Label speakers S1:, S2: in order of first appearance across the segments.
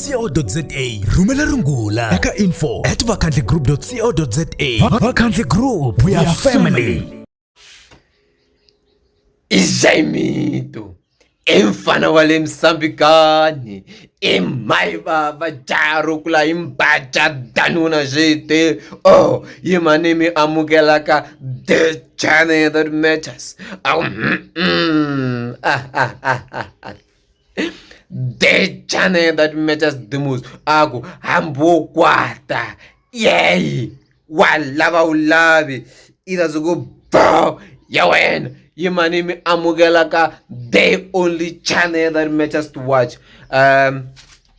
S1: co.za rhumela rungula eka info at vakhandli group co za vakhandli group we are family
S2: izaimitu i mfana wa le misambikani i mai vava jarukula i mbaja danuna zvete o oh, yi manimi amukelaka the channel that matters oh, mm, mm. Ah, ah, ah, ah, ah. the channel that matters the most aku hambokwata yay walava ulavi irazoku bow ya wena yimani mi amukela ka the only channel that matters to watch um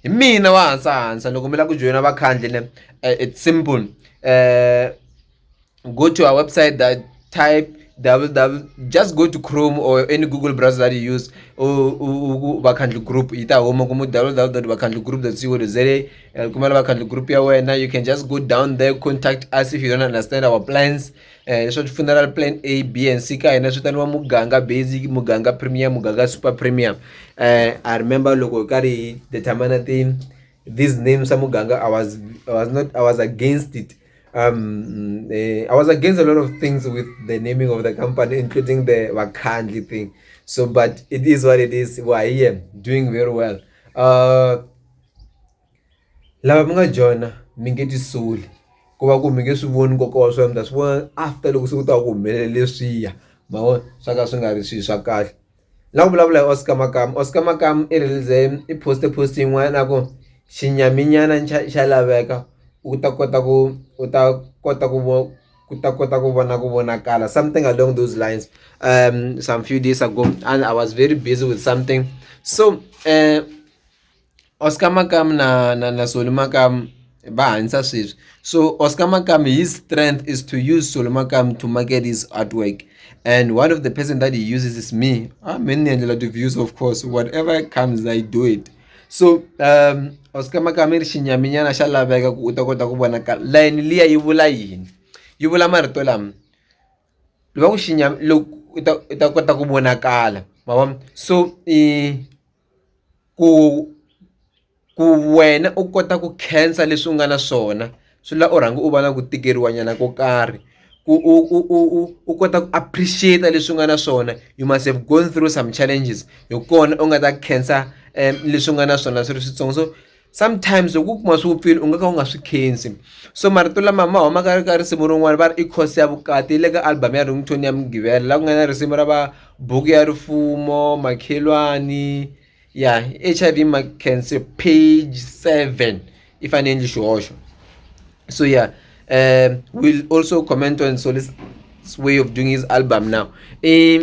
S2: hi mina wa hansa hansa loko mi lava ku joyina vakhandli ne eh, it's simple um go to our website that type www just go to chrome or any google browser that you use vakhandli group yi ta huma kuma www vakhandli group co za eh, kumela vakhandli group ya wena you can just go down there contact us if you don't understand our plans eh, leswo ti funeral plan a b and c ka hina swi taniwa muganga basic muganga premium muganga super premium eh, i remember loko hi karhi hi determina ti these names a muganga i was i was not i was against it Um, uh, I was against a lot of things with the naming of the company, including the Wakandli thing. So, but it is what it is. Well, I am doing very well. Uh, lava mi nga joyina mi nge ti soli ku va ku mi nge swi voni nkoka wa swona mi ta swi vona after loko se ku ta ku humelela leswiya ma vona swa ka swi nga ri swilo swa kahle la ku vulavula hi Oscar Makamu Oscar Makamu i release i poste post yin'wana ku xinyaminyana xa xa laveka u ta kota ku u ta kota ku vo ku ta kota ku vona ku vonakala something along those lines um some few days ago and I was very busy with something so . Oscar makamu na na na Solly makamu va hanyisa sweswi so Oscar makamu his strength is to use Solly makamu to market his art work and one of the person that he uses is me a me ni endlela ti-views of course whatever comes I do it so Oscar makamu i ri xinyaminyana xa laveka ku u ta kota ku vona ka layeni liya yi vula yini yi vula marito lama loko xinyama loko u ta u ta kota ku vonakala ma vona so i. ku ku wena u kota ku khensa leswi u nga na swona swi la u rhanga u va na ku tikeriwa nyana ko karhi ku u u u u u kota ku appreciate leswi u nga na swona you must have gone through some challenges hi kona u nga ta khensa leswi u nga na swona swi ri switsongo so. sometimes loko u kuma swi vupfile u nga ka u nga swi khensi so marito lama ma humaka ri ka risimu rin'wana va ri i khosi ya vukati yi le ka album ya ringtone ya mugivela la ku nga na risimu ra va buku ya rifumo makhelwani ya h i v macancer page seven i fanele endli xihoxo so ya um will also comment on solis way of doing his album now i.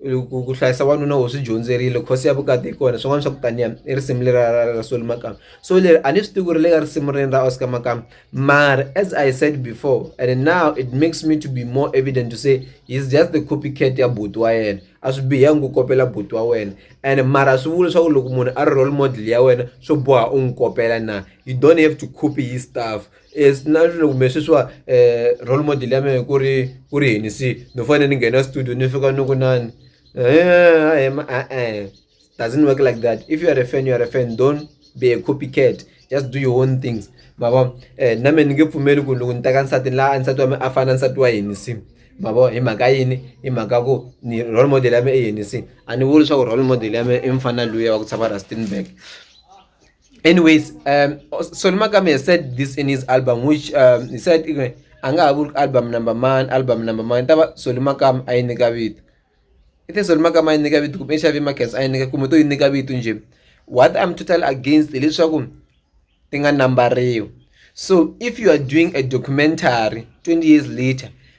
S2: ku ku hlayisa wanuna wo swi dyondzerile course ya vukati hi kona swin'wana swa ku taniya i risimu leri ra ra Solly Makamu so leri a ni swi tivi ku ri le ka risimu reni ra Oscar Makamu mara as I said before and now it makes me to be more evident to say he's just the copycat ya buti wa yena a swi bihangi ku kopela buti wa wena and mara swi vula leswaku loko munhu a ri role model ya wena swo boha u n'wi kopela na you don't have to copy his stuff. Yes, na swilo kumbe sweswiwa eh role model ya mina ku ri ku ri yini se no fanele ni nghena studio ni fika ni ku nani eh em eh eh doesn't work like that if you are a fan you are a fan don't be a copycat just do your own things ma vo eh na mina ni nge pfumeli ku loko ni teka nsati la nsati wa mina a fana nsati wa yini se ma vo hi mhaka yini hi mhaka ku ni role model ya mina i yini se a ni vuli leswaku role model ya mina i mufana luya wa ku tshama Rustenburg. anyways um, Solly Magame has said this in his album which um, he said a nga ha vuri album number man album number man ta va Solly Magame a yi nyika vito i te Solly Magame a yi nyika vito kumbe Xavi Marcus a yi nyika kumbe to yi nyika vito njhe what I'm totally against hileswaku ti nga nambariwi so if you are doing a documentary 20 years later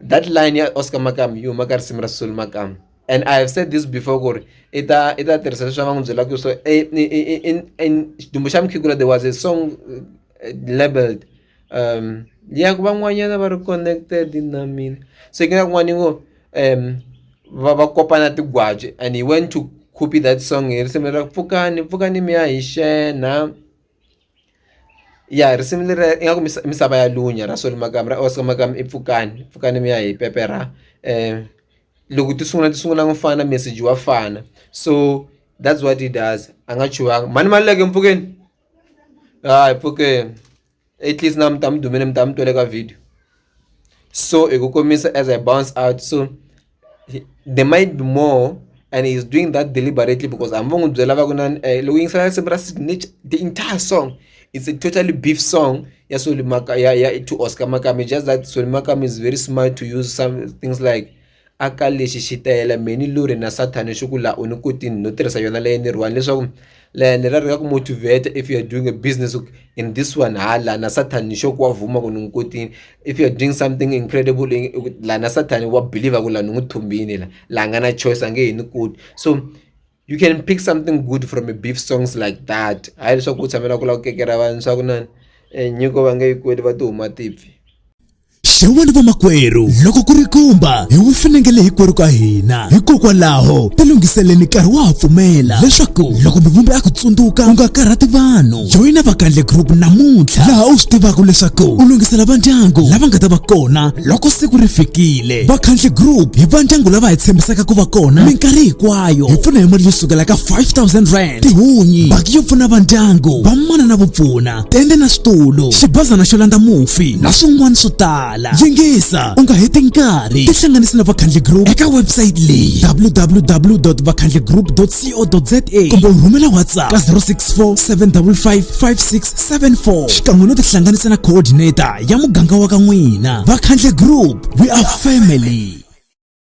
S2: that line ya Oscar Makamu yi huma ka risimu ra Sisulu Makamu and I have said this before ku ri i ta i ta tirhisa leswi va n'wi byelaka ku so xidumbu xa mukhegula there was a song eh, labeled um ya ku van'wanyana va ri connected na mina so ke na kun'wana ngo um va va kopana tigwaji and he went to copy that song hi risimu ra pfukani pfukani mi ya hi xena ya risimu leri ingaku misava ya lunya ra Solly Makamu ra Oscar Makamu i pfukani pfukani mi ya hi pepe ra loko ti sungula ti sungula ku fana meseji wa fana so that's what he does a nga chuhangi mhani Maluleke mpfukeni hayi pfukeni at least na mi ta mi dumile mi ta mi twele ka video so hi ku komisa as I bounce out so. he- there might be more and he's doing that deliberately because hambi va n'wi byela va ku na eh, loko yingisela risimu ra Sid Nitch, the entire song it's a totally beef song ya Solly Maka ya ya to Oscar Makame just that Solly Makame is very smart to use some things like aka lexi xitayela meni lori na sathane xi ku la u ni kotini no tirhisa yona leyi ni riwani leswaku le ni rhandza ku motivater if you are doing a business in this one ha la na Satan ni sure ku wa vuma ku ni n'wi kotile if you are doing something incredible la na Satan wa believer ku la ni n'wi thumbini la la nga na choice a nge he ni koti so you can pick something good from a beef songs like that hayi leswaku u tshamela ku lava ku kekera vanhu swa ku na nyiko va nge yi kweli va ti huma tipfi. xewani
S1: vamakwerhu loko ku ri kumba hi wu finengele hikwerhu ka hina hikokwalaho tilunghiseleni nkarhi wa ha pfumela leswaku loko mivumbi a ku tsundzuka u nga karhati vanhu joyina vakandle group namuntlha laha u swi tivaka leswaku u lunghisela vandyangu lava nga ta va kona loko siku ri fikile vakhandle group hi vandyangu lava hi tshembisaka ku va kona minkarhi hinkwayo hi pfuna hi mali yo sukela ka 5000 rand tihunyi baki yo pfuna vandyangu vamana na vupfuna tende na switulu xibazana xo landza mufi na swin'wana swo tala yingisa u nga heti nkarhi tihlanganisi na vakhandli group eka website leyi www vakhandli group co za kumbe u rhumela whatsapp ka 064 755 5674 xikan'we no tihlanganisa na coordinator ya muganga wa ka n'wina vakhandli group we are family